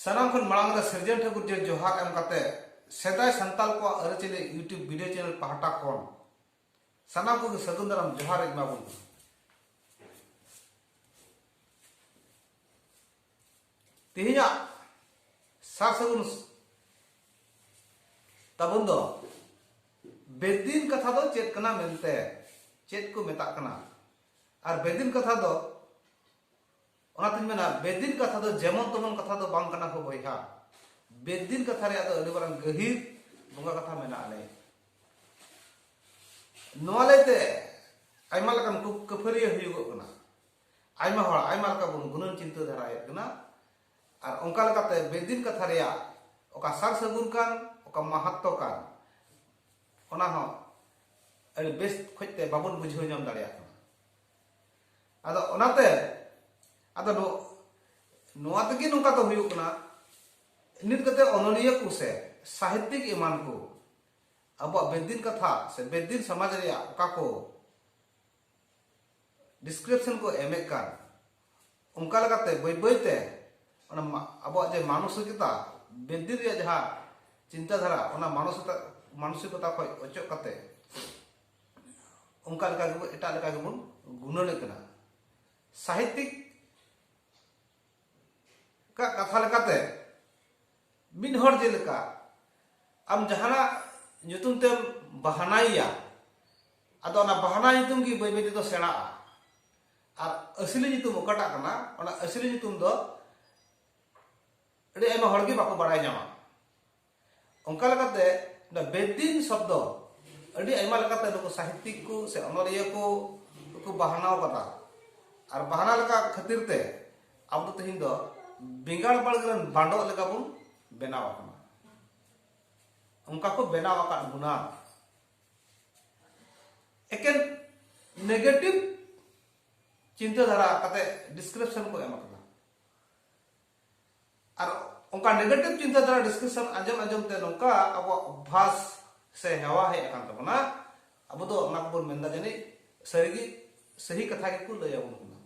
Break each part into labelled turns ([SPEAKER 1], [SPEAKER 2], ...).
[SPEAKER 1] ᱥᱟᱱᱟᱢ ᱠᱷᱚᱱ ᱢᱟᱲᱟᱝ ᱨᱮ ᱥᱤᱨᱡᱚᱱ ᱴᱷᱟᱹᱠᱩᱨ ᱡᱮ ᱡᱚᱦᱟᱨ ᱮᱢ ᱠᱟᱛᱮ ᱥᱮᱫᱟᱭ ᱥᱟᱱᱛᱟᱞ ᱠᱚᱣᱟᱜ ᱟᱹᱨᱤᱪᱟᱹᱞᱤ ᱤᱭᱩᱴᱩᱵᱽ ᱵᱷᱤᱰᱤᱭᱳ ᱪᱮᱱᱮᱞ ᱯᱟᱦᱴᱟ ᱠᱷᱚᱱ ᱥᱟᱱᱟᱢ ᱠᱚᱜᱮ ᱥᱟᱹᱜᱩᱱ ᱫᱟᱨᱟᱢ ᱡᱚᱦᱟᱨ ᱤᱧ ᱮᱢᱟᱵᱚᱱ ᱠᱟᱱᱟ ᱛᱮᱦᱮᱧᱟᱜ ᱥᱟᱨ ᱥᱟᱹᱜᱩᱱ ᱛᱟᱵᱚᱱ ᱫᱚ ᱵᱮᱫᱤᱱ ᱠᱟᱛᱷᱟ ᱫᱚ ᱪᱮᱫ ᱠᱟᱱᱟ ᱢᱮᱱᱛᱮ ᱪᱮᱫ ᱠᱚ ᱢᱮᱛᱟᱜ ᱠᱟᱱᱟ ᱟᱨ ᱵᱮᱫᱤᱱ ᱠᱟᱛᱷᱟ ᱫᱚ ᱚᱱᱟᱛᱤᱧ ᱢᱮᱱᱟ ᱵᱮᱫᱤᱱ ᱠᱟᱛᱷᱟ ᱫᱚ ᱡᱮᱢᱚᱱ ᱛᱮᱢᱚᱱ ᱠᱟᱛᱷᱟ ᱫᱚ ᱵᱟᱝ ᱠᱟᱱᱟ ᱠᱚ ᱵᱚᱭᱦᱟ ᱵᱮᱫᱤᱱ ᱠᱟᱛᱷᱟ ᱨᱮᱭᱟᱜ ᱫᱚ ᱟᱹᱰᱤ ᱢᱟᱨᱟᱝ ᱜᱟᱹᱦᱤᱨ ᱵᱚᱸᱜᱟ ᱠᱟᱛᱷᱟ ᱢᱮᱱᱟᱜᱼᱟ ᱞᱮ ᱱᱚᱣᱟ ᱞᱟᱹᱭᱛᱮ ᱟᱭᱢᱟ ᱞᱮᱠᱟᱱ ᱠᱟᱹᱯᱷᱟᱹᱨᱤᱭᱟᱹ ᱦᱩᱭᱩᱜᱚᱜ ᱠᱟᱱᱟ ᱟᱭᱢᱟ ᱦᱚᱲ ᱟᱭᱢᱟ ᱞᱮᱠᱟ ᱵᱚᱱ ᱜᱩᱱᱟᱹᱱ ᱪᱤᱱᱛᱟᱹ ᱫᱷᱟᱨᱟᱭᱮᱫ ᱠᱟᱱᱟ ᱟᱨ ᱚᱱᱠᱟ ᱞᱮᱠᱟᱛᱮ ᱵᱮᱫᱤᱱ ᱠᱟᱛᱷᱟ ᱨᱮᱭᱟᱜ ᱚᱠᱟ ᱥᱟᱨ ᱥᱟᱹᱜᱩᱱ ᱠᱟᱱ ᱚᱠᱟ ᱢᱟᱦᱟᱛᱛᱚ ᱠᱟᱱ ᱚᱱᱟ ᱦᱚᱸ ᱟᱹᱰᱤ ᱵᱮᱥ ᱠᱷᱚᱡ ᱛᱮ ᱵᱟᱵᱚᱱ ᱵᱩᱡᱷᱟᱹᱣ ᱧᱟᱢ ᱫᱟᱲᱮᱭᱟᱜ ᱠᱟᱱᱟ ᱟᱫᱚ ᱚᱱᱟᱛᱮ ᱟᱫᱚ ᱱᱚᱣᱟ ᱛᱮᱜᱮ ᱱᱚᱝᱠᱟ ᱫᱚ ᱦᱩᱭᱩᱜ ᱠᱟᱱᱟ ᱱᱤᱛ ᱠᱟᱛᱮ ᱚᱱᱚᱞᱤᱭᱟᱹ ᱠᱚ ᱥᱮ ᱥᱟᱦᱤᱛᱭᱤᱠ ᱮᱢᱟᱱ ᱠᱚ ᱟᱵᱚᱣᱟᱜ ᱵᱮᱫᱤᱱ ᱠᱟᱛᱷᱟ ᱥᱮ ᱵᱮᱫᱤᱱ ᱥᱚᱢᱟᱡᱽ ᱨᱮᱭᱟᱜ ᱚᱠᱟ ᱠᱚ ᱰᱤᱥᱠᱨᱤᱯᱥᱚᱱ ᱠᱚ ᱮᱢᱮᱫ ᱠᱟᱱ ᱚᱱᱠᱟ ᱞᱮᱠᱟᱛᱮ ᱵᱟᱹᱭ ᱵᱟᱹᱭᱛᱮ ᱚᱱᱟ ᱟᱵᱚᱣᱟᱜ ᱡᱮ ᱢᱟᱱᱚᱥᱤᱠᱚᱛᱟ ᱵᱮᱫᱤ ᱨᱮᱭᱟᱜ ᱡᱟᱦᱟᱸ ᱪᱤᱱᱛᱟᱹ ᱫᱷᱟᱨᱟ ᱚᱱᱟ ᱢᱟᱱᱚᱥᱤᱠᱚᱛᱟ ᱢᱟᱱᱚᱥᱤᱠᱚᱛᱟ ᱠᱷᱚᱱ ᱚᱪᱚᱜ ᱠᱟᱛᱮ ᱚᱱᱠᱟ ᱞᱮᱠᱟ ᱜᱮᱵᱚᱱ ᱮᱴᱟᱜ ᱞᱮᱠᱟ ᱜᱮᱵᱚᱱ ᱜᱩᱱᱟᱹᱱᱮᱫ ᱠᱟᱱᱟ ᱥᱟᱦᱤᱛᱤᱠ ᱠᱟᱜ ᱠᱟᱛᱷᱟ ᱞᱮᱠᱟᱛᱮ ᱢᱤᱫ ᱦᱚᱲ ᱡᱮᱞᱮᱠᱟ ᱟᱢ ᱡᱟᱦᱟᱱᱟᱜ ᱧᱩᱛᱩᱢ ᱛᱮᱢ ᱵᱟᱦᱟᱱᱟᱭᱮᱭᱟ ᱟᱫᱚ ᱚᱱᱟ ᱵᱟᱦᱟᱱᱟ ᱧᱩᱛᱩᱢ ᱜᱮ ᱵᱟᱹᱭ ᱵᱟᱹᱭ ᱛᱮᱫᱚ ᱥᱮᱬᱟᱜᱼᱟ ᱟᱨ ᱟᱹᱥᱞᱤ ᱧᱩᱛᱩᱢ ᱚᱠᱟᱴᱟᱜ ᱠᱟᱱᱟ ᱚᱱᱟ ᱟᱹᱥᱞᱤ ᱧᱩᱛᱩᱢ ᱫᱚ ᱟᱹᱰᱤ ᱟᱭᱢᱟ ᱦᱚᱲ ᱜᱮ ᱵᱟᱠᱚ ᱵᱟᱲᱟᱭ ᱧᱟᱢᱟ ᱚᱱᱠᱟ ᱞᱮᱠᱟᱛᱮ ᱱᱚᱣᱟ ᱵᱮᱫᱤᱱ ᱥᱚᱵᱫᱚ ᱟᱹᱰᱤ ᱟᱭᱢᱟ ᱞᱮᱠᱟᱛᱮ ᱱᱩᱠᱩ ᱥᱟᱦᱤᱛᱤᱠ ᱠᱚ ᱥᱮ ᱚᱱᱚᱞᱤᱭᱟᱹ ᱠᱚ ᱠᱚ ᱵᱟᱦᱱᱟᱣ ᱠᱟᱫᱟ ᱟᱨ ᱵᱟᱦᱱᱟ ᱞᱮᱠᱟ ᱠᱷᱟᱹᱛᱤᱨ ᱛᱮ ᱟᱵᱚ ᱫᱚ ᱛᱮᱦᱮᱧ ᱫᱚ ᱵᱮᱸᱜᱟᱲ ᱵᱟᱲᱜᱮ ᱨᱮᱱ ᱵᱟᱸᱰᱚᱜ ᱞᱮᱠᱟ ᱵᱚᱱ ᱵᱮᱱᱟᱣ ᱟᱠᱟᱱᱟ ᱚᱱᱠᱟ ᱠᱚ ᱵᱮᱱᱟᱣ ᱟᱠᱟᱫ ᱵᱚᱱᱟ ᱮᱠᱮᱱ ᱱᱮᱜᱮᱴᱤᱵᱷ ᱪᱤᱱᱛᱟᱹ ᱫᱷᱟᱨᱟ ᱠᱟᱛᱮ ᱰᱤᱥᱠᱨᱤᱯᱥᱚᱱ ᱠᱚ ᱮᱢ ᱟᱠᱟᱫᱟ ᱟᱨ ᱚᱱᱠᱟ ᱱᱮᱜᱮᱴᱤᱵᱷ ᱪᱤᱱᱛᱟᱹ ᱫᱷᱟᱨᱟ ᱰᱤᱥᱠᱨᱤᱯᱥᱚᱱ ᱟᱸᱡᱚᱢ ᱟᱸᱡᱚᱢ ᱛᱮ ᱱᱚᱝᱠᱟ ᱟᱵᱚᱣᱟᱜ ᱚᱵᱷᱟᱥ ᱥᱮ ᱦᱮᱣᱟ ᱦᱮᱡ ᱟᱠᱟᱱ ᱛᱟᱵᱚᱱᱟ ᱟᱵᱚ ᱫᱚ ᱚᱱᱟ ᱠᱚᱵᱚᱱ ᱢᱮᱱᱫᱟ ᱡᱟᱹᱱᱤᱡ ᱥᱟᱹᱨᱤᱜᱮ ᱥᱟᱹᱦᱤ ᱠᱟᱛᱷᱟ ᱜᱮᱠᱚ ᱞᱟᱹᱭ ᱟᱵᱚᱱ ᱠᱟᱱᱟ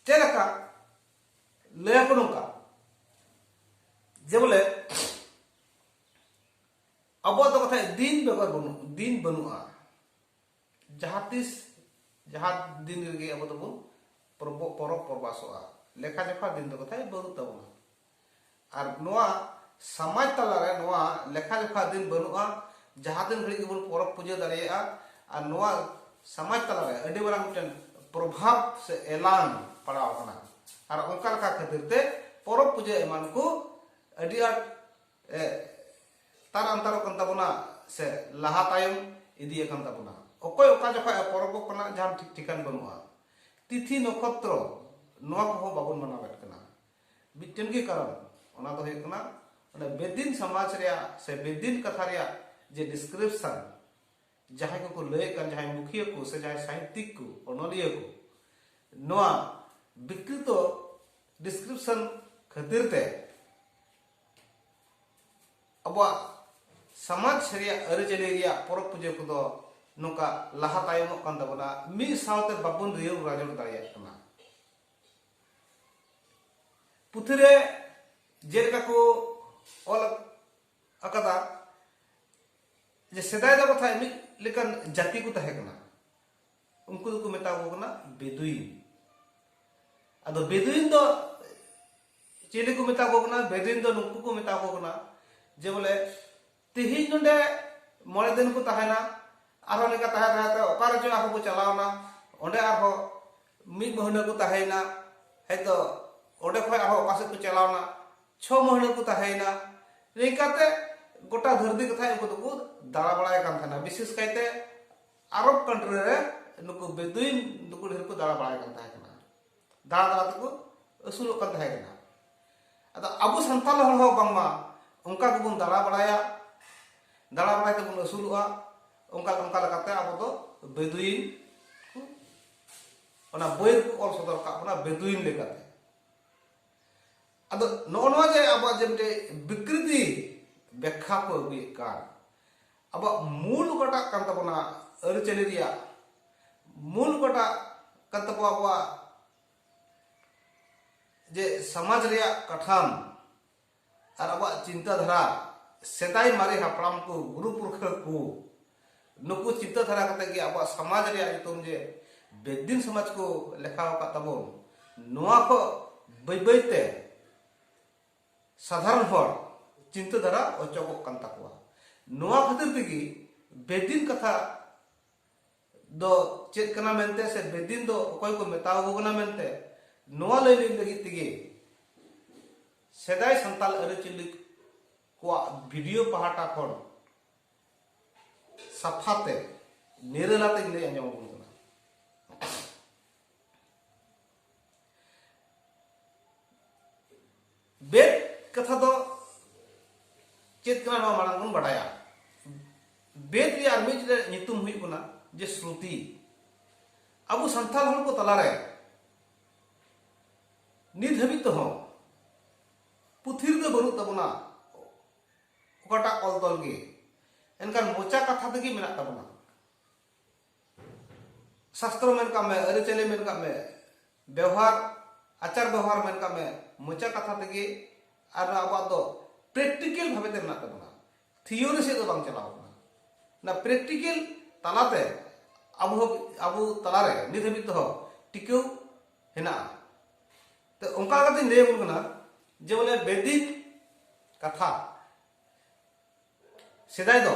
[SPEAKER 1] ᱪᱮᱫ ᱞᱮᱠᱟ ᱞᱟᱹᱭ ᱟᱠᱚ ᱱᱚᱝᱠᱟ ᱡᱮ ᱵᱚᱞᱮ ᱟᱵᱚᱣᱟᱜ ᱫᱚ ᱠᱟᱛᱷᱟ ᱫᱤᱱ ᱵᱮᱜᱚᱨ ᱵᱟᱹᱱᱩᱜ ᱫᱤᱱ ᱵᱟᱹᱱᱩᱜᱼᱟ ᱡᱟᱦᱟᱸ ᱛᱤᱥ ᱡᱟᱦᱟᱸ ᱫᱤᱱ ᱨᱮᱜᱮ ᱟᱵᱚ ᱫᱚᱵᱚᱱ ᱯᱚᱨᱚᱵᱽ ᱯᱚᱨᱚᱵᱽ ᱯᱚᱨᱵᱟᱥᱚᱜᱼᱟ ᱞᱮᱠᱷᱟ ᱡᱚᱠᱷᱟ ᱫᱤᱱ ᱫᱚ ᱠᱟᱛᱷᱟᱭ ᱵᱟᱹᱱᱩᱜ ᱛᱟᱵᱚᱱᱟ ᱟᱨ ᱱᱚᱣᱟ ᱥᱚᱢᱟᱡᱽ ᱛᱟᱞᱟᱨᱮ ᱱᱚᱣᱟ ᱞᱮᱠᱷᱟ ᱡᱚᱠᱷᱟ ᱫᱤᱱ ᱵᱟᱹᱱᱩᱜᱼᱟ ᱡᱟᱦᱟᱸ ᱫᱤᱱ ᱜᱷᱟᱹᱲᱤᱡ ᱜᱮᱵᱚᱱ ᱯᱚᱨᱚᱵᱽ ᱯᱩᱡᱟᱹ ᱫᱟᱲᱮᱭᱟᱜᱼᱟ ᱟᱨ ᱱᱚᱣᱟ ᱥᱚᱢᱟᱡᱽ ᱛᱟᱞᱟᱨᱮ ᱟᱹᱰᱤ ᱢᱟᱨᱟᱝ ᱢᱤᱫᱴᱮᱱ ᱯᱨᱚᱵᱷᱟᱵᱽ ᱥᱮ ᱮᱞᱟᱝ ᱯᱟᱲᱟᱣ ᱟᱠᱟᱱᱟ ᱟᱨ ᱚᱱᱠᱟ ᱞᱮᱠᱟ ᱠᱷᱟᱹᱛᱤᱨ ᱛᱮ ᱯᱚᱨᱚᱵᱽ ᱯᱩᱡᱟᱹ ᱮᱢᱟᱱ ᱠᱚ ᱟᱹᱰᱤ ᱟᱸᱴ ᱛᱟᱨ ᱟᱱᱛᱟᱨᱚᱜ ᱠᱟᱱ ᱛᱟᱵᱚᱱᱟ ᱥᱮ ᱞᱟᱦᱟ ᱛᱟᱭᱚᱢ ᱤᱫᱤᱭ ᱟᱠᱟᱱ ᱛᱟᱵᱚᱱᱟ ᱚᱠᱚᱭ ᱚᱠᱟ ᱡᱚᱠᱷᱚᱡ ᱯᱚᱨᱚᱵᱚᱜ ᱠᱟᱱᱟ ᱡᱟᱦᱟᱱ ᱴᱷᱤᱠ ᱴᱷᱤᱠᱟᱱ ᱵᱟᱹᱱᱩᱜᱼᱟ ᱛᱤᱛᱷᱤ ᱱᱚᱠᱷᱚᱛᱨᱚ ᱱᱚᱣᱟ ᱠᱚᱦᱚᱸ ᱵᱟᱵᱚᱱ ᱢᱟᱱᱟᱣᱮᱫ ᱠᱟᱱᱟ ᱢᱤᱫᱴᱮᱱ ᱜᱮ ᱠᱟᱨᱚᱱ ᱚᱱᱟ ᱫᱚ ᱦᱩᱭᱩᱜ ᱠᱟᱱᱟ ᱚᱱᱟ ᱵᱮᱫᱤᱱ ᱥᱚᱢᱟᱡᱽ ᱨᱮᱭᱟᱜ ᱥᱮ ᱵᱮᱫᱤᱱ ᱠᱟᱛᱷᱟ ᱨᱮᱭᱟᱜ ᱡᱮ ᱰᱤᱥᱠᱨᱤᱯᱥᱚᱱ ᱡᱟᱦᱟᱸᱭ ᱠᱚᱠᱚ ᱞᱟᱹᱭᱮᱫ ᱠᱟᱱ ᱡᱟᱦᱟᱸᱭ ᱢᱩᱠᱷᱤᱭᱟᱹ ᱠᱚ ᱥᱮ ᱡᱟᱦᱟᱸᱭ ᱥᱟᱦᱤᱛᱭᱤᱠ ᱠᱚ ᱚᱱᱚᱞᱤᱭᱟᱹ ᱠᱚ ᱱᱚᱣᱟ ᱵᱤᱠᱨᱤᱛᱚ ᱰᱤᱥᱠᱨᱤᱯᱥᱚᱱ ᱠᱷᱟᱹᱛᱤᱨ ᱛᱮ ᱟᱵᱚᱣᱟᱜ ᱥᱚᱢᱟᱡᱽ ᱨᱮᱭᱟᱜ ᱟᱹᱨᱤᱪᱟᱹᱞᱤ ᱨᱮᱭᱟᱜ ᱯᱚᱨᱚᱵᱽ ᱯᱩᱡᱟᱹ ᱠᱚᱫᱚ ᱱᱚᱝᱠᱟ ᱞᱟᱦᱟ ᱛᱟᱭᱚᱢᱚᱜ ᱠᱟᱱ ᱛᱟᱵᱚᱱᱟ ᱢᱤᱫ ᱥᱟᱶᱛᱮ ᱵᱟᱵᱚᱱ ᱨᱤᱭᱟᱹᱣ ᱨᱟᱡᱚᱲ ᱫᱟᱲᱮᱭᱟᱜ ᱠᱟᱱᱟ ᱯᱩᱛᱷᱤ ᱨᱮ ᱡᱮᱞᱮᱠᱟ ᱠᱚ ᱚᱞ ᱟᱠᱟᱫᱟ ᱡᱮ ᱥᱮᱫᱟᱭ ᱫᱚ ᱠᱟᱛᱷᱟ ᱢᱤᱫ ᱞᱮᱠᱟᱱ ᱡᱟᱹᱛᱤ ᱠᱚ ᱛᱟᱦᱮᱸ ᱠᱟᱱᱟ ᱩᱱᱠᱩ ᱫᱚᱠᱚ ᱢᱮᱛᱟ ᱠᱚ ᱠᱟᱱᱟ ᱵᱮᱫᱩᱭᱤᱱ ᱟᱫᱚ ᱵᱮᱫᱩᱭᱤᱱ ᱫᱚ ᱪᱤᱞᱤ ᱠᱚ ᱢᱮᱛᱟ ᱠᱚ ᱠᱟᱱᱟ ᱵᱮᱫᱩᱭᱤᱱ ᱫᱚ ᱱᱩᱠᱩ ᱠᱚ ᱢᱮᱛᱟ ᱠᱚ ᱠᱟᱱᱟ ᱡᱮ ᱵᱚᱞᱮ ᱛᱮᱦᱮᱧ ᱱᱚᱰᱮ ᱢᱚᱬᱮ ᱫᱤᱱ ᱠᱚ ᱛᱟᱦᱮᱱᱟ ᱟᱨᱦᱚᱸ ᱱᱤᱝᱠᱟ ᱛᱟᱦᱮᱸ ᱛᱟᱦᱮᱸ ᱛᱮ ᱚᱠᱟ ᱨᱮᱪᱚ ᱟᱨᱦᱚᱸ ᱠᱚ ᱪᱟᱞᱟᱣᱱᱟ ᱚᱸᱰᱮ ᱟᱨᱦᱚᱸ ᱢᱤᱫ ᱢᱟᱹᱦᱱᱟᱹ ᱠᱚ ᱛᱟᱦᱮᱸᱭᱮᱱᱟ ᱦᱚᱭᱛᱚ ᱚᱸᱰᱮ ᱠᱷᱚᱱ ᱟᱨᱦᱚᱸ ᱚᱠᱟ ᱥᱮᱫ ᱠᱚ ᱪᱟᱞᱟᱣᱱᱟ ᱪᱷᱚ ᱢᱟᱹᱦᱱᱟᱹ ᱠᱚ ᱛᱟᱦᱮᱸᱭᱮᱱᱟ ᱱᱤᱝᱠᱟᱛᱮ ᱜᱚᱴᱟ ᱫᱷᱟᱹᱨᱛᱤ ᱠᱟᱛᱷᱟ ᱩᱱᱠᱩ ᱫᱚᱠᱚ ᱫᱟᱬᱟ ᱵᱟᱲᱟᱭ ᱠᱟᱱ ᱛᱟᱦᱮᱱᱟ ᱵᱤᱥᱮᱥ ᱠᱟᱭᱛᱮ ᱟᱨᱚᱵ ᱠᱟᱱᱴᱨᱤ ᱨᱮ ᱱᱩᱠᱩ ᱵᱮᱫᱩᱭᱤᱱ ᱱᱩᱠᱩ ᱰᱷᱮᱨ ᱠᱚ ᱫᱟᱬᱟ ᱵᱟᱲᱟᱭ ᱠᱟᱱ ᱛᱟᱦᱮᱸ ᱠᱟᱱᱟ ᱫᱟᱬᱟ ᱫᱟᱬᱟ ᱛᱮᱠᱚ ᱟᱹᱥᱩᱞᱚᱜ ᱠᱟᱱ ᱛᱟᱦᱮᱸ ᱠᱟᱱᱟ ᱟᱫᱚ ᱟᱵᱚ ᱥᱟᱱᱛᱟᱲ ᱦᱚᱲ ᱦᱚᱸ ᱵᱟᱝᱢᱟ ᱚᱱᱠᱟ ᱜᱮᱵᱚᱱ ᱫᱟᱬᱟ ᱵᱟᱲᱟᱭᱟ ᱫᱟᱬᱟ ᱵᱟᱲᱟᱭ ᱛᱮᱵᱚᱱ ᱟᱹᱥᱩᱞᱚᱜᱼᱟ ᱚᱱᱠᱟ ᱚᱱᱠᱟ ᱞᱮᱠᱟᱛᱮ ᱟᱵᱚ ᱫᱚ ᱵᱮᱫᱩᱭᱤᱱ ᱚᱱᱟ ᱵᱳᱭ ᱠᱚ ᱚᱞ ᱥᱚᱫᱚᱨ ᱠᱟᱜ ᱵᱚᱱᱟ ᱵᱮᱫᱩᱭᱤᱱ ᱞᱮᱠᱟᱛᱮ ᱟᱫᱚ ᱱᱚᱜᱼᱚ ᱱᱚᱣᱟ ᱡᱮ ᱟᱵᱚᱣᱟᱜ ᱡᱮ ᱢᱤᱫᱴᱮᱡ ᱵᱤᱠᱨᱤᱛᱤ ᱵᱮᱠᱷᱟ ᱠᱚ ᱟᱹᱜᱩᱭᱮᱫ ᱠᱟᱱ ᱟᱵᱚᱣᱟᱜ ᱢᱩᱞ ᱚᱠᱟᱴᱟᱜ ᱠᱟᱱ ᱛᱟᱵᱚᱱᱟ ᱟᱹᱨᱤᱪᱟᱹᱞᱤ ᱨᱮᱭᱟᱜ ᱢᱩᱞ ᱚᱠᱟᱴᱟᱜ ᱠᱟᱱ ᱛᱟᱵᱚ ᱟᱵᱚᱣᱟᱜ ᱡᱮ ᱥᱚᱢᱟᱡᱽ ᱨᱮᱭᱟᱜ ᱠᱟᱴᱷᱟᱢ ᱟᱨ ᱟᱵᱚᱣᱟᱜ ᱪᱤᱱᱛᱟᱹ ᱫᱷᱟᱨᱟ ᱥᱮᱫᱟᱭ ᱢᱟᱨᱮ ᱦᱟᱯᱲᱟᱢ ᱠᱚ ᱜᱩᱨᱩ ᱯᱩᱨᱠᱷᱟᱹ ᱠᱚ ᱱᱩᱠᱩ ᱪᱤᱱᱛᱟᱹ ᱫᱷᱟᱨᱟ ᱠᱟᱛᱮ ᱜᱮ ᱟᱵᱚᱣᱟᱜ ᱥᱚᱢᱟᱡᱽ ᱨᱮᱭᱟᱜ ᱧᱩᱛᱩᱢ ᱡᱮ ᱵᱮᱫᱤᱱ ᱥᱚᱢᱟᱡᱽ ᱠᱚ ᱞᱮᱠᱷᱟ ᱟᱠᱟᱫ ᱛᱟᱵᱚᱱ ᱱᱚᱣᱟ ᱠᱚ ᱵᱟᱹᱭ ᱵᱟᱹᱭᱛᱮ ᱥᱟᱫᱷᱟᱨᱚᱱ ᱦᱚᱲ ᱪᱤᱱᱛᱟᱹ ᱫᱷᱟᱨᱟ ᱚᱪᱚᱜᱚᱜ ᱠᱟᱱ ᱛᱟᱠᱚᱣᱟ ᱱᱚᱣᱟ ᱠᱷᱟᱹᱛᱤᱨ ᱛᱮᱜᱮ ᱵᱮᱫᱤᱱ ᱠᱟᱛᱷᱟ ᱫᱚ ᱪᱮᱫ ᱠᱟᱱᱟ ᱢᱮᱱᱛᱮ ᱥᱮ ᱵᱮᱫᱤᱱ ᱫᱚ ᱚᱠᱚᱭ ᱠᱚ ᱢᱮᱛᱟᱣ ᱠᱚ ᱠᱟᱱᱟ ᱢᱮᱱᱛᱮ ᱱᱚᱣᱟ ᱞᱟᱹᱭ ᱞᱟᱹᱜᱤᱫ ᱛᱮᱜᱮ ᱥᱮᱫᱟᱭ ᱥᱟᱱᱛᱟᱞ ᱟᱹᱨᱤᱪᱟᱹᱞᱤ ᱠᱚᱣᱟᱜ ᱵᱷᱤᱰᱤᱭᱳ ᱯᱟᱦᱴᱟ ᱠᱷᱚᱱ ᱥᱟᱯᱷᱟᱛᱮ ᱱᱤᱨᱟᱹᱞᱟᱛᱮᱧ ᱞᱟᱹᱭ ᱟᱸᱡᱚᱢ ᱟᱵᱚᱱ ᱵᱮᱫ ᱠᱟᱛᱷᱟ ᱫᱚ ᱪᱮᱫ ᱠᱟᱱᱟ ᱱᱚᱣᱟ ᱢᱟᱲᱟᱝ ᱵᱚᱱ ᱵᱟᱰᱟᱭᱟ ᱵᱮᱫ ᱨᱮᱭᱟᱜ ᱟᱨ ᱢᱤᱫ ᱧᱩᱛᱩᱢ ᱦᱩᱭᱩᱜ ᱠᱟᱱᱟ ᱡᱮ ᱥᱨᱩᱛᱤ ᱟᱵᱚ ᱥᱟᱱᱛᱟᱲ ᱦᱚᱲ ᱠᱚ ᱛᱟᱞᱟᱨᱮ ᱱᱤᱛ ᱦᱟᱹᱵᱤᱡ ᱛᱮᱦᱚᱸ ᱯᱩᱛᱷᱤ ᱨᱮᱫᱚ ᱵᱟᱹᱱᱩᱜ ᱛᱟᱵᱚᱱᱟ ᱚᱠᱟᱴᱟᱜ ᱚᱞ ᱛᱚᱞ ᱜᱮ ᱮᱱᱠᱷᱟᱱ ᱢᱚᱪᱟ ᱠᱟᱛᱷᱟ ᱛᱮᱜᱮ ᱢᱮᱱᱟᱜ ᱛᱟᱵᱚᱱᱟ ᱥᱟᱥᱛᱨᱚ ᱢᱮᱱ ᱠᱟᱜ ᱢᱮ ᱟᱹᱨᱤᱪᱟᱹᱞᱤ ᱢᱮᱱ ᱠᱟᱜ ᱢᱮ ᱵᱮᱣᱦᱟᱨ ᱟᱪᱟᱨ ᱵᱮᱣᱦᱟᱨ ᱢᱮᱱ ᱠᱟᱜ ᱢᱮ ᱢᱚᱪᱟ ᱠᱟᱛᱷᱟ ᱛᱮᱜᱮ ᱟᱨ ᱟᱵᱚᱣᱟᱜ ᱫᱚ ᱯᱨᱮᱠᱴᱤᱠᱮᱞ ᱵᱷᱟᱵᱮ ᱛᱮ ᱢᱮᱱᱟᱜ ᱛᱟᱵᱚᱱᱟ ᱛᱷᱤᱭᱳᱨᱤ ᱥᱮᱫ ᱫᱚ ᱵᱟᱝ ᱪᱟᱞᱟᱣ ᱠᱟᱱᱟ ᱚᱱᱟ ᱯᱨᱮᱠᱴᱤᱠᱮᱞ ᱛᱟᱞᱟᱛᱮ ᱟᱵᱚ ᱟᱵᱚ ᱛᱟᱞᱟᱨᱮ ᱱᱤᱛ ᱦᱟᱹᱵᱤᱡ ᱛᱮᱦᱚᱸ ᱴᱤᱠᱟᱹᱣ ᱦᱮᱱᱟᱜᱼᱟ ᱛᱚ ᱚᱱᱠᱟ ᱠᱟᱛᱮᱧ ᱞᱟᱹᱭ ᱟᱵᱚᱱ ᱠᱟᱱᱟ ᱡᱮ ᱵᱚᱞᱮ ᱵᱮᱫᱤᱠ ᱠᱟᱛᱷᱟ ᱥᱮᱫᱟᱭ ᱫᱚ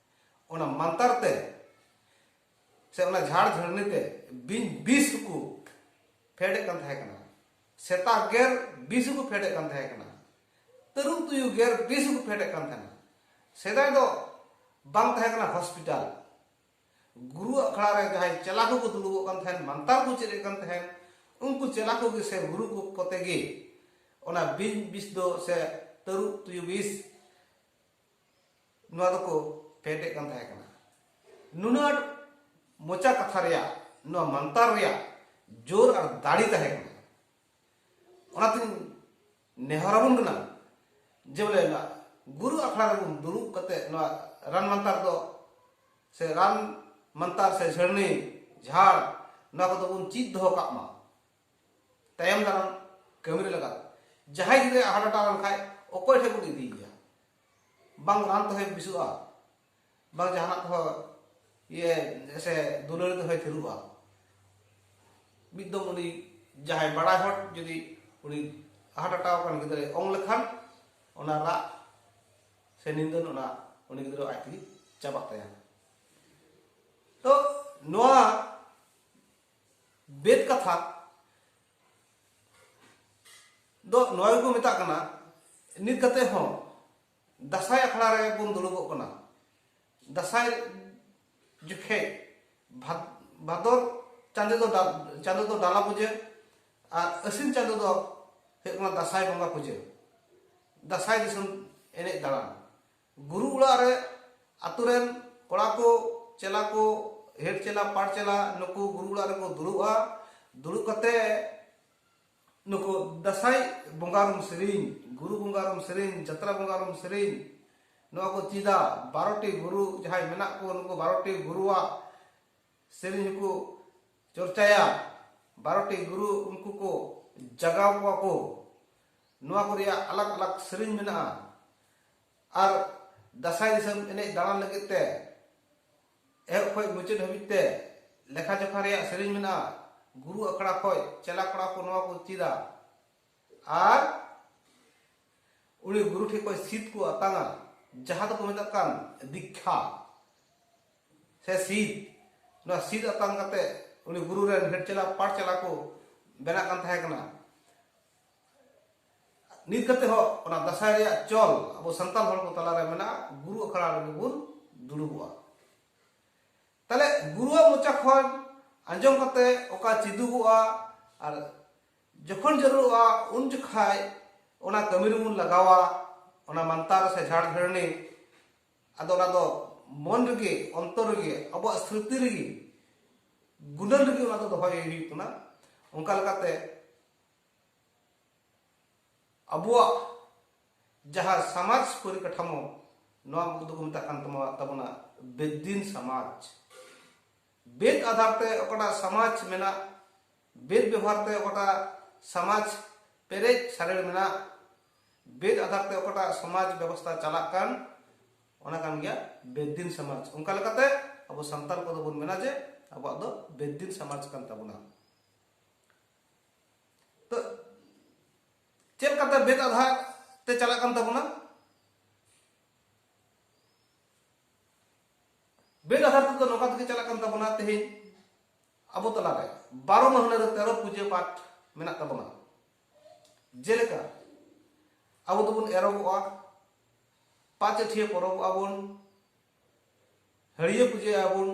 [SPEAKER 1] ᱚᱱᱟ ᱢᱟᱱᱛᱟᱨ ᱛᱮ ᱥᱮ ᱚᱱᱟ ᱡᱷᱟᱲ ᱡᱷᱟᱹᱲᱱᱤ ᱛᱮ ᱵᱤᱧ ᱵᱤᱥ ᱠᱚ ᱯᱷᱮᱰᱮᱫ ᱠᱟᱱ ᱛᱟᱦᱮᱸ ᱠᱟᱱᱟ ᱥᱮᱛᱟ ᱜᱮᱨ ᱵᱤᱥ ᱠᱚ ᱯᱷᱮᱰᱮᱫ ᱠᱟᱱ ᱛᱟᱦᱮᱸ ᱠᱟᱱᱟ ᱛᱟᱹᱨᱩᱵ ᱛᱩᱭᱩ ᱜᱮᱨ ᱵᱤᱥ ᱠᱚ ᱯᱷᱮᱰᱮᱫ ᱠᱟᱱ ᱛᱟᱦᱮᱸ ᱠᱟᱱᱟ ᱥᱮᱫᱟᱭ ᱫᱚ ᱵᱟᱝ ᱛᱟᱦᱮᱸ ᱠᱟᱱᱟ ᱦᱚᱥᱯᱤᱴᱟᱞ ᱜᱩᱨᱩ ᱟᱠᱷᱲᱟ ᱨᱮ ᱡᱟᱦᱟᱸᱭ ᱪᱮᱞᱟ ᱠᱚᱠᱚ ᱫᱩᱲᱩᱵᱚᱜ ᱠᱟᱱ ᱛᱟᱦᱮᱸᱱ ᱢᱟᱱᱛᱟᱨ ᱠᱚ ᱪᱮᱫ ᱮᱫ ᱠᱟᱱ ᱛᱟᱦᱮᱸᱱ ᱩᱱᱠᱩ ᱪᱮᱞᱟ ᱠᱚᱜᱮ ᱥᱮ ᱜᱩᱨᱩ ᱠᱚ ᱠᱚᱛᱮ ᱜᱮ ᱚᱱᱟ ᱵᱤᱧ ᱵᱤᱥ ᱫᱚ ᱥᱮ ᱛᱟᱹᱨᱩᱵ ᱛᱩᱭᱩ ᱵᱤᱥ ᱱᱚᱣᱟ ᱫᱚᱠᱚ ᱯᱮᱴᱮᱫ ᱠᱟᱱ ᱛᱟᱦᱮᱸ ᱠᱟᱱᱟ ᱱᱩᱱᱟᱹᱜ ᱢᱚᱪᱟ ᱠᱟᱛᱷᱟ ᱨᱮᱭᱟᱜ ᱱᱚᱣᱟ ᱢᱟᱱᱛᱟᱨ ᱨᱮᱭᱟᱜ ᱡᱳᱨ ᱟᱨ ᱫᱟᱲᱮ ᱛᱟᱦᱮᱸ ᱠᱟᱱᱟ ᱚᱱᱟᱛᱤᱧ ᱱᱮᱦᱚᱨᱟᱵᱚᱱ ᱠᱟᱱᱟ ᱡᱮ ᱵᱚᱞᱮ ᱱᱚᱣᱟ ᱜᱩᱨᱩ ᱟᱠᱷᱲᱟ ᱨᱮᱵᱚᱱ ᱫᱩᱲᱩᱵ ᱠᱟᱛᱮ ᱱᱚᱣᱟ ᱨᱟᱱ ᱢᱟᱱᱛᱟᱨ ᱫᱚ ᱥᱮ ᱨᱟᱱ ᱢᱟᱱᱛᱟᱨ ᱥᱮ ᱡᱷᱟᱹᱨᱱᱤ ᱡᱷᱟᱲ ᱱᱚᱣᱟ ᱠᱚᱫᱚ ᱵᱚᱱ ᱪᱮᱫ ᱫᱚᱦᱚ ᱠᱟᱜ ᱢᱟ ᱛᱟᱭᱚᱢ ᱫᱟᱨᱟᱢ ᱠᱟᱹᱢᱤ ᱨᱮ ᱞᱟᱜᱟᱜ ᱡᱟᱦᱟᱸᱭ ᱜᱤᱫᱽᱨᱟᱹ ᱦᱟᱨᱴ ᱟᱴᱟᱠ ᱞᱮᱱᱠᱷᱟᱡ ᱚᱠᱚᱭ ᱴᱷᱮᱱ ᱵᱚᱱ ᱤᱫᱤᱭᱮᱭᱟ ᱵᱟᱝ ᱨᱟᱱ ᱛᱮᱦᱚᱸᱭ ᱵᱮᱥᱚᱜᱼᱟ ᱵᱟᱝ ᱡᱟᱦᱟᱱᱟᱜ ᱛᱮᱦᱚᱸ ᱤᱭᱟᱹ ᱥᱮ ᱫᱩᱞᱟᱹᱲ ᱛᱮᱦᱚᱸᱭ ᱛᱷᱤᱨᱚᱜᱼᱟ ᱢᱤᱫ ᱫᱚᱢ ᱩᱱᱤ ᱡᱟᱦᱟᱸᱭ ᱵᱟᱲᱟᱭ ᱦᱚᱲ ᱡᱩᱫᱤ ᱩᱱᱤ ᱦᱟᱨᱴ ᱟᱴᱟᱠ ᱟᱠᱟᱱ ᱜᱤᱫᱽᱨᱟᱹᱭ ᱚᱝ ᱞᱮᱠᱷᱟᱱ ᱚᱱᱟ ᱨᱟᱜ ᱥᱮ ᱱᱤᱱᱫᱟᱹᱱ ᱚᱱᱟ ᱩᱱᱤ ᱜᱤᱫᱽᱨᱟᱹ ᱟᱡ ᱛᱮᱜᱮ ᱪᱟᱵᱟᱜ ᱛᱟᱭᱟ ᱛᱚ ᱱᱚᱣᱟ ᱵᱮᱫ ᱠᱟᱛᱷᱟ ᱫᱚ ᱱᱚᱣᱟ ᱜᱮᱠᱚ ᱢᱮᱛᱟᱜ ᱠᱟᱱᱟ ᱱᱤᱛ ᱠᱟᱛᱮ ᱦᱚᱸ ᱫᱟᱥᱟᱭ ᱟᱠᱷᱲᱟ ᱨᱮ ᱵᱚᱱ ᱫᱩᱲᱩᱵᱚᱜ ᱠᱟᱱᱟ ᱫᱟᱥᱟᱭ ᱡᱚᱠᱷᱮᱡ ᱵᱷᱟᱫᱚᱨ ᱪᱟᱸᱫᱚ ᱫᱚ ᱪᱟᱸᱫᱚ ᱫᱚ ᱰᱟᱞᱟ ᱯᱩᱡᱟᱹ ᱟᱨ ᱟᱹᱥᱤᱱ ᱪᱟᱸᱫᱚ ᱫᱚ ᱦᱩᱭᱩᱜ ᱠᱟᱱᱟ ᱫᱟᱥᱟᱭ ᱵᱚᱸᱜᱟ ᱯᱩᱡᱟᱹ ᱫᱟᱥᱟᱭ ᱫᱤᱥᱚᱢ ᱮᱱᱮᱡ ᱫᱟᱬᱟᱱ ᱜᱩᱨᱩ ᱚᱲᱟᱜ ᱨᱮ ᱟᱛᱳ ᱨᱮᱱ ᱠᱚᱲᱟ ᱠᱚ ᱪᱮᱞᱟ ᱠᱚ ᱦᱮᱰ ᱪᱮᱞᱟ ᱯᱟᱴ ᱪᱮᱞᱟ ᱱᱩᱠᱩ ᱜᱩᱨᱩ ᱚᱲᱟᱜ ᱨᱮᱠᱚ ᱫᱩᱲᱩᱵᱼᱟ ᱫᱩᱲᱩᱵ ᱠᱟᱛᱮ ᱱᱩᱠᱩ ᱫᱟᱸᱥᱟᱭ ᱵᱚᱸᱜᱟ ᱨᱩᱢ ᱥᱮᱨᱮᱧ ᱜᱩᱨᱩ ᱵᱚᱸᱜᱟ ᱨᱩᱢ ᱥᱮᱨᱮᱧ ᱡᱟᱛᱨᱟ ᱵᱚᱸᱜᱟ ᱨᱩᱢ ᱥᱮᱨᱮᱧ ᱱᱚᱣᱟ ᱠᱚ ᱪᱮᱫᱟ ᱵᱟᱨᱚᱴᱤ ᱜᱩᱨᱩ ᱡᱟᱦᱟᱸᱭ ᱢᱮᱱᱟᱜ ᱠᱚ ᱱᱩᱠᱩ ᱵᱟᱨᱚᱴᱤ ᱜᱩᱨᱩᱣᱟᱜ ᱥᱮᱨᱮᱧ ᱦᱚᱸᱠᱚ ᱪᱚᱨᱪᱟᱭᱟ ᱵᱟᱨᱚᱴᱤ ᱜᱩᱨᱩ ᱩᱱᱠᱩ ᱠᱚ ᱡᱟᱜᱟᱣ ᱠᱚᱣᱟ ᱠᱚ ᱱᱚᱣᱟ ᱠᱚ ᱨᱮᱭᱟᱜ ᱟᱞᱟᱜ ᱟᱞᱟᱜ ᱥᱮᱨᱮᱧ ᱢᱮᱱᱟᱜᱼᱟ ᱟᱨ ᱫᱟᱸᱥᱟᱭ ᱫᱤᱥᱚᱢ ᱮᱱᱮᱡ ᱫᱟᱬᱟᱱ ᱞᱟᱹᱜᱤᱫ ᱛᱮ ᱮᱦᱚᱵ ᱠᱷᱚᱱ ᱢᱩᱪᱟᱹᱫ ᱦᱟᱹᱵᱤᱡ ᱛᱮ ᱞᱮᱠᱷᱟ ᱡᱚᱠᱷᱟ ᱨᱮᱭᱟᱜ ᱥᱮᱨᱮᱧ ᱢᱮᱱᱟᱜᱼᱟ ᱜᱩᱨᱩ ᱟᱠᱷᱲᱟ ᱠᱷᱚᱱ ᱪᱮᱞᱟ ᱠᱚᱲᱟ ᱠᱚ ᱱᱚᱣᱟ ᱠᱚ ᱪᱮᱫᱟ ᱟᱨ ᱩᱱᱤ ᱜᱩᱨᱩ ᱴᱷᱮᱱ ᱠᱷᱚᱱ ᱥᱤᱫ ᱠᱚ ᱟᱛᱟᱝᱟ ᱡᱟᱦᱟᱸ ᱫᱚᱠᱚ ᱢᱮᱛᱟᱜ ᱠᱟᱱ ᱫᱤᱠᱠᱷᱟ ᱥᱮ ᱥᱤᱫ ᱱᱚᱣᱟ ᱥᱤᱫ ᱟᱛᱟᱝ ᱠᱟᱛᱮ ᱩᱱᱤ ᱜᱩᱨᱩ ᱨᱮᱱ ᱦᱮᱰ ᱪᱮᱞᱟ ᱯᱟᱴ ᱪᱮᱞᱟ ᱠᱚ ᱵᱮᱱᱟᱜ ᱠᱟᱱ ᱛᱟᱦᱮᱸ ᱠᱟᱱᱟ ᱱᱤᱛ ᱠᱟᱛᱮ ᱦᱚᱸ ᱚᱱᱟ ᱫᱟᱥᱟᱭ ᱨᱮᱭᱟᱜ ᱪᱚᱞ ᱟᱵᱚ ᱥᱟᱱᱛᱟᱲ ᱦᱚᱲ ᱠᱚ ᱛᱟᱞᱟ ᱨᱮ ᱢᱮᱱᱟᱜᱼᱟ ᱜᱩᱨᱩ ᱟᱠᱷᱲᱟ ᱨᱮᱜᱮ ᱵᱚᱱ ᱫᱩᱲᱩᱵᱚᱜᱼᱟ ᱛᱟᱦᱞᱮ ᱜᱩᱨᱩᱣᱟᱜ ᱢᱚᱪᱟ ᱠᱷᱚᱱ ᱟᱸᱡᱚᱢ ᱠᱟᱛᱮ ᱚᱠᱟ ᱪᱮᱫᱩᱜᱚᱜᱼᱟ ᱟᱨ ᱡᱚᱠᱷᱚᱱ ᱡᱟᱹᱨᱩᱲᱚᱜᱼᱟ ᱩᱱ ᱡᱚᱠᱷᱟᱡ ᱚᱱᱟ ᱠᱟᱹᱢᱤ ᱨᱮᱵᱚᱱ ᱞᱟᱜᱟᱣᱟ ᱚᱱᱟ ᱢᱟᱱᱛᱟᱨ ᱥᱮ ᱡᱷᱟᱲ ᱜᱷᱮᱨᱱᱤ ᱟᱫᱚ ᱚᱱᱟ ᱫᱚ ᱢᱚᱱ ᱨᱮᱜᱮ ᱚᱱᱛᱚᱨ ᱨᱮᱜᱮ ᱟᱵᱚᱣᱟᱜ ᱥᱨᱤᱛᱤ ᱨᱮᱜᱮ ᱜᱩᱱᱟᱹᱱ ᱨᱮᱜᱮ ᱚᱱᱟ ᱫᱚ ᱫᱚᱦᱚᱭ ᱦᱩᱭᱩᱜ ᱠᱟᱱᱟ ᱚᱱᱠᱟ ᱞᱮᱠᱟᱛᱮ ᱟᱵᱚᱣᱟᱜ ᱡᱟᱦᱟᱸ ᱥᱟᱢᱟᱡᱽ ᱯᱚᱨᱤᱠᱟᱴᱷᱟᱢᱳ ᱱᱚᱣᱟ ᱠᱚᱫᱚ ᱠᱚ ᱢᱮᱛᱟᱜ ᱠᱟᱱ ᱛᱟᱵᱚᱱᱟ ᱵᱮᱫᱫᱤᱱ ᱥᱟᱢᱟᱡᱽ ᱵᱮᱫ ᱟᱫᱷᱟᱨ ᱛᱮ ᱚᱠᱟᱴᱟᱜ ᱥᱟᱢᱟᱡᱽ ᱢᱮᱱᱟᱜ ᱵᱮᱫᱽ ᱵᱮᱵᱷᱟᱨ ᱛᱮ ᱚᱠᱟᱴᱟᱜ ᱥᱟᱢᱟᱡᱽ ᱯᱮᱨᱮᱡ ᱥᱟᱨᱮᱲ ᱢᱮᱱᱟᱜ ᱵᱮᱫᱽ ᱟᱫᱷᱟᱨ ᱛᱮ ᱚᱠᱟᱴᱟᱜ ᱥᱚᱢᱟᱡᱽ ᱵᱮᱵᱚᱥᱛᱟ ᱪᱟᱞᱟᱜ ᱠᱟᱱ ᱚᱱᱟ ᱠᱟᱱ ᱜᱮᱭᱟ ᱵᱮᱫᱽᱫᱤᱱ ᱥᱚᱢᱟᱡᱽ ᱚᱱᱠᱟ ᱞᱮᱠᱟᱛᱮ ᱟᱵᱚ ᱥᱟᱱᱛᱟᱲ ᱠᱚᱫᱚ ᱵᱚᱱ ᱢᱮᱱᱟ ᱡᱮ ᱟᱵᱚᱣᱟᱜ ᱫᱚ ᱵᱮᱫᱽᱫᱤᱱ ᱥᱚᱢᱟᱡᱽ ᱠᱟᱱ ᱛᱟᱵᱚᱱᱟ ᱛᱚ ᱪᱮᱫ ᱞᱮᱠᱟᱛᱮ ᱵᱮᱫᱽ ᱟᱫᱷᱟᱨ ᱛᱮ ᱪᱟᱞᱟᱜ ᱠᱟᱱ ᱛᱟᱵᱚᱱᱟ ᱵᱮᱞ ᱟᱫᱷᱟᱨ ᱛᱮᱫᱚ ᱱᱚᱝᱠᱟ ᱛᱮᱜᱮ ᱪᱟᱞᱟᱜ ᱠᱟᱱ ᱛᱟᱵᱚᱱᱟ ᱛᱮᱦᱮᱧ ᱟᱵᱚ ᱛᱟᱞᱟᱨᱮ ᱵᱟᱨᱚ ᱢᱟᱹᱦᱱᱟᱹ ᱨᱮ ᱛᱮᱨᱚ ᱯᱩᱡᱟᱹ ᱯᱟᱴ ᱢᱮᱱᱟᱜ ᱛᱟᱵᱚᱱᱟ ᱡᱮᱞᱮᱠᱟ ᱟᱵᱚ ᱫᱚᱵᱚᱱ ᱮᱨᱚᱜᱚᱜᱼᱟ ᱯᱟᱸᱪ ᱟᱹᱴᱷᱤᱭᱟᱹ ᱯᱚᱨᱚᱵᱚᱜᱼᱟ ᱵᱚᱱ ᱦᱟᱹᱲᱤᱭᱟᱹ ᱯᱩᱡᱟᱹᱭᱟᱵᱚᱱ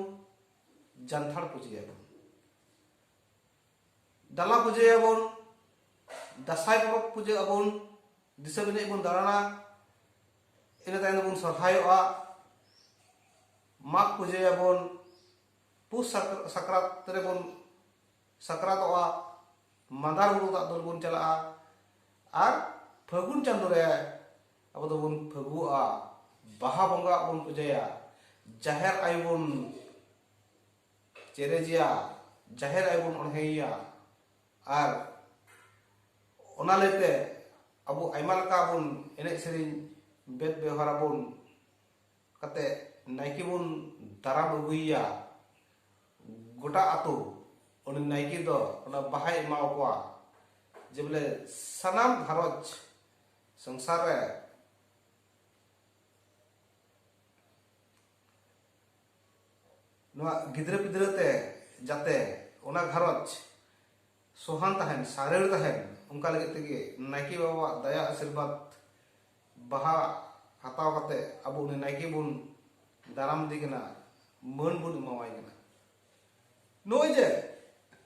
[SPEAKER 1] ᱡᱟᱱᱛᱷᱟᱲ ᱯᱩᱡᱟᱹᱭᱟᱵᱚᱱ ᱰᱟᱞᱟ ᱯᱩᱡᱟᱹᱭᱟᱵᱚᱱ ᱫᱟᱸᱥᱟᱭ ᱯᱚᱨᱚᱵᱽ ᱯᱩᱡᱟᱹ ᱟᱵᱚᱱ ᱫᱤᱥᱚᱢ ᱮᱱᱮᱡ ᱵᱚᱱ ᱫᱟᱬᱟᱱᱟ ᱤᱱᱟᱹ ᱛᱟᱭᱚᱢ ᱫᱚᱵᱚᱱ ᱥᱚᱨᱦᱟᱭᱚᱜᱼᱟ ᱢᱟᱜᱽ ᱯᱩᱡᱟᱹᱭᱟᱵᱚᱱ ᱯᱩᱥ ᱥᱟᱠᱨᱟᱛ ᱨᱮᱵᱚᱱ ᱥᱟᱠᱨᱟᱛᱚᱜᱼᱟ ᱢᱟᱸᱫᱟᱨ ᱵᱩᱨᱩ ᱫᱟᱜ ᱫᱩᱞ ᱵᱚᱱ ᱪᱟᱞᱟᱜᱼᱟ ᱟᱨ ᱯᱷᱟᱹᱜᱩᱱ ᱪᱟᱸᱫᱳ ᱨᱮ ᱟᱵᱚ ᱫᱚᱵᱚᱱ ᱯᱷᱟᱹᱜᱩᱜᱼᱟ ᱵᱟᱦᱟ ᱵᱚᱸᱜᱟ ᱵᱚᱱ ᱯᱩᱡᱟᱹᱭᱟ ᱡᱟᱦᱮᱨ ᱟᱭᱳ ᱵᱚᱱ ᱪᱮᱨᱮᱡᱮᱭᱟ ᱡᱟᱦᱮᱨ ᱟᱭᱳ ᱵᱚᱱ ᱚᱬᱦᱮᱭᱮᱭᱟ ᱟᱨ ᱚᱱᱟ ᱞᱟᱹᱭᱛᱮ ᱟᱵᱚ ᱟᱭᱢᱟ ᱞᱮᱠᱟ ᱵᱚᱱ ᱮᱱᱮᱡ ᱥᱮᱨᱮᱧ ᱵᱮᱫ ᱵᱮᱣᱦᱟᱨ ᱟᱵᱚᱱ ᱠᱟᱛᱮ ᱱᱟᱭᱠᱮ ᱵᱚᱱ ᱫᱟᱨᱟᱢ ᱟᱹᱜᱩᱭᱮᱭᱟ ᱜᱚᱴᱟ ᱟᱛᱳ ᱩᱱᱤ ᱱᱟᱭᱠᱮ ᱫᱚ ᱚᱱᱟ ᱵᱟᱦᱟᱭ ᱮᱢᱟ ᱠᱚᱣᱟ ᱡᱮ ᱵᱚᱞᱮ ᱥᱟᱱᱟᱢ ᱜᱷᱟᱨᱚᱸᱡᱽ ᱥᱚᱝᱥᱟᱨ ᱨᱮ ᱱᱚᱣᱟ ᱜᱤᱫᱽᱨᱟᱹ ᱯᱤᱫᱽᱨᱟᱹ ᱛᱮ ᱡᱟᱛᱮ ᱚᱱᱟ ᱜᱷᱟᱨᱚᱸᱡᱽ ᱥᱚᱦᱟᱱ ᱛᱟᱦᱮᱱ ᱥᱟᱨᱮᱲ ᱛᱟᱦᱮᱱ ᱚᱱᱠᱟ ᱞᱟᱹᱜᱤᱫ ᱛᱮᱜᱮ ᱱᱟᱭᱠᱮ ᱵᱟᱵᱟᱣᱟᱜ ᱫᱟᱭᱟ ᱟᱥᱤᱨᱵᱟᱫᱽ ᱵᱟᱦᱟ ᱦᱟᱛᱟᱣ ᱠᱟᱛᱮ ᱟᱵᱚ ᱩᱱᱤ ᱱᱟᱭᱠᱮ ᱵᱚᱱ ᱫᱟᱨᱟᱢ ᱤᱫᱤ ᱠᱟᱱᱟ ᱢᱟᱹᱱ ᱵᱚᱱ ᱮᱢᱟᱣᱟᱭ ᱠᱟᱱᱟ ᱱᱚᱜᱼᱚᱭ ᱡᱮ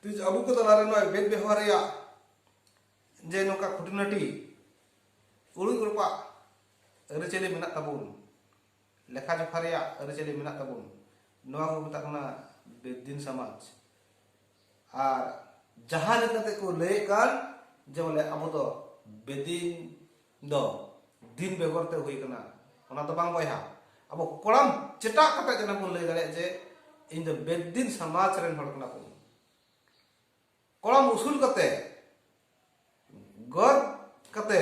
[SPEAKER 1] ᱛᱤᱡ ᱟᱵᱚ ᱠᱚ ᱛᱟᱞᱟᱨᱮ ᱱᱚᱜᱼᱚᱭ ᱵᱮᱫ ᱵᱮᱣᱦᱟᱨ ᱨᱮᱭᱟᱜ ᱡᱮ ᱱᱚᱝᱠᱟ ᱠᱷᱩᱴᱤᱱᱟᱹᱴᱤ ᱩᱲᱩᱡ ᱩᱲᱯᱟᱜ ᱟᱹᱨᱤᱪᱟᱹᱞᱤ ᱢᱮᱱᱟᱜ ᱛᱟᱵᱚᱱ ᱞᱮᱠᱷᱟ ᱡᱚᱠᱷᱟ ᱨᱮᱭᱟᱜ ᱟᱹᱨᱤᱪᱟᱹᱞᱤ ᱢᱮᱱᱟᱜ ᱛᱟᱵᱚᱱ ᱱᱚᱣᱟ ᱠᱚ ᱢᱮᱛᱟᱜ ᱠᱟᱱᱟ ᱵᱮᱫᱤᱱ ᱥᱚᱢᱟᱡᱽ ᱟᱨ ᱡᱟᱦᱟᱸ ᱞᱮᱠᱟᱛᱮ ᱠᱚ ᱞᱟᱹᱭᱮᱫ ᱠᱟᱱ ᱡᱮ ᱵᱚᱞᱮ ᱟᱵᱚ ᱫᱚ ᱵᱮᱫᱤᱱ ᱫᱚ ᱫᱤᱱ ᱵᱮᱜᱚᱨ ᱛᱮ ᱦᱩᱭ ᱠᱟᱱᱟ ᱚᱱᱟ ᱫᱚ ᱵᱟᱝ ᱵᱚᱭᱦᱟ ᱟᱵᱚ ᱠᱚᱲᱟᱢ ᱪᱮᱴᱟᱜ ᱠᱟᱛᱮ ᱡᱮᱱᱚ ᱵᱚᱱ ᱞᱟᱹᱭ ᱫᱟᱲᱮᱭᱟᱜ ᱡᱮ ᱤᱧ ᱫᱚ ᱵᱮᱫᱤᱱ ᱥᱚᱢᱟᱡᱽ ᱨᱮᱱ ᱦᱚᱲ ᱠᱟᱱᱟ ᱵᱚᱱ ᱠᱚᱲᱟᱢ ᱩᱥᱩᱞ ᱠᱟᱛᱮ ᱜᱚᱨ ᱠᱟᱛᱮ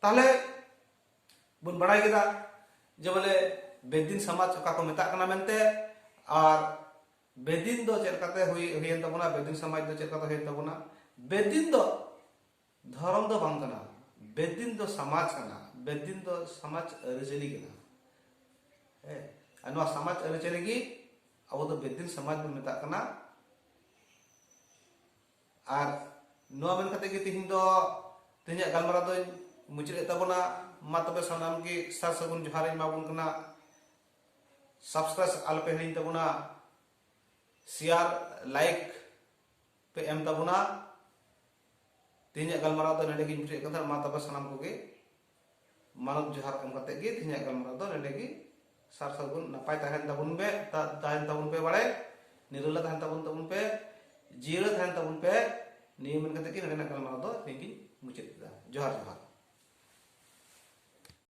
[SPEAKER 1] ᱛᱟᱦᱞᱮ ᱵᱚᱱ ᱵᱟᱲᱟᱭ ᱠᱮᱫᱟ ᱡᱮ ᱵᱚᱞᱮ ᱵᱮᱫᱤᱱ ᱥᱚᱢᱟᱡᱽ ᱚᱠᱟ ᱠᱚ ᱢᱮᱛᱟᱜ ᱠᱟᱱᱟ ᱢᱮᱱᱛᱮ ᱟᱨ ᱵᱮᱫᱤᱱ ᱫᱚ ᱪᱮᱫ ᱞᱮᱠᱟᱛᱮ ᱦᱩᱭ ᱦᱩᱭᱮᱱ ᱛᱟᱵᱚᱱᱟ ᱵᱮᱫᱤᱱ ᱥᱚᱢᱟᱡᱽ ᱫᱚ ᱪᱮᱫ ᱞᱮᱠᱟᱛᱮ ᱦᱩᱭᱮᱱ ᱛᱟᱵᱚᱱᱟ ᱵᱮᱫᱤᱱ ᱫᱚ ᱫᱷᱚᱨᱚᱢ ᱫᱚ ᱵᱟᱝ ᱠᱟᱱᱟ ᱵᱮᱫᱤᱱ ᱫᱚ ᱥᱚᱢᱟᱡᱽ ᱠᱟᱱᱟ ᱵᱮᱫᱤᱱ ᱫᱚ ᱥᱚᱢᱟᱡᱽ ᱟᱹᱨᱤᱪᱟᱹᱞᱤ ᱠᱟᱱᱟ ᱦᱮᱸ ᱟᱨ ᱱᱚᱣᱟ ᱥᱚᱢᱟᱡᱽ ᱟᱹᱨᱤᱪᱟᱹᱞᱤ ᱜᱮ ᱟᱵᱚ ᱫᱚ ᱵᱮᱫᱤᱱ ᱥᱚᱢᱟᱡᱽ ᱵᱚᱱ ᱢᱮᱛᱟᱜ ᱠᱟᱱᱟ ᱟᱨ ᱱᱚᱣᱟ ᱢᱮᱱ ᱠᱟᱛᱮ ᱜᱮ ᱛᱮᱦᱮᱧ ᱫᱚ ᱛᱮᱦᱮᱧᱟᱜ ᱜᱟᱞᱢᱟᱨᱟᱣ ᱫᱚᱧ ᱢᱩᱪᱟᱹᱫ ᱮᱫ ᱛᱟᱵᱚᱱᱟ ᱢᱟ ᱛᱚᱵᱮ ᱥᱟᱱᱟᱢ ᱜᱮ ᱥᱟᱨ ᱥᱟᱹᱜᱩᱱ ᱡᱚᱦᱟᱨ ᱤᱧ ᱮᱢᱟᱵᱚᱱ ᱠᱟᱱᱟ ᱥᱟᱵᱥᱠᱨᱟᱭᱤᱵ ᱟᱞᱚᱯᱮ ᱦᱤᱲᱤᱧ ᱛᱟᱵᱚᱱᱟ ᱥᱮᱭᱟᱨ ᱞᱟᱭᱤᱠ ᱯᱮ ᱮᱢ ᱛᱟᱵᱚᱱᱟ ᱛᱮᱦᱮᱧᱟᱜ ᱜᱟᱞᱢᱟᱨᱟᱣ ᱫᱚ ᱱᱚᱰᱮ ᱜᱤᱧ ᱢᱩᱪᱟᱹᱫ ᱠᱟᱫᱟ ᱢᱟ ᱛᱚᱵᱮ ᱥᱟᱱᱟᱢ ᱠᱚᱜᱮ ᱢᱟᱱᱚᱛ ᱡᱚᱦᱟᱨ ᱮᱢ ᱠᱟᱛᱮ ᱜᱮ ᱛᱮᱦᱮᱧᱟᱜ ᱜᱟᱞᱢᱟᱨᱟᱣ ᱫᱚ ᱱᱚᱰᱮ ᱜᱮ ᱥᱟᱨ ᱥᱟᱹᱜᱩᱱ ᱱᱟᱯᱟᱭ ᱛᱟᱦᱮᱱ ᱛᱟᱵᱚᱱ ᱯᱮ ᱛᱟᱦᱮᱱ ᱛᱟᱵᱚᱱ ᱯᱮ ᱵᱟᱲᱟᱭ ᱱᱤᱨᱟᱹᱞᱟ ᱛᱟᱦᱮᱱ ᱛᱟᱵᱚᱱ ᱛᱟᱵᱚᱱ ᱯᱮ ᱡᱤᱭᱟᱹᱲ ᱛᱟᱦᱮᱱ ᱛᱟᱵᱚᱱ ᱯᱮ ᱱᱤᱭᱟᱹ ᱢᱮᱱ ᱠᱟᱛᱮ ᱜᱮ ᱱᱚᱰᱮᱱᱟᱜ ᱜᱟᱞᱢᱟᱨᱟᱣ ᱫᱚ ᱛᱮᱦᱮᱧ ᱜᱤᱧ ᱢᱩᱪᱟᱹᱫ ᱠᱮᱫᱟ ᱡᱚᱦᱟᱨ ᱡᱚᱦᱟᱨ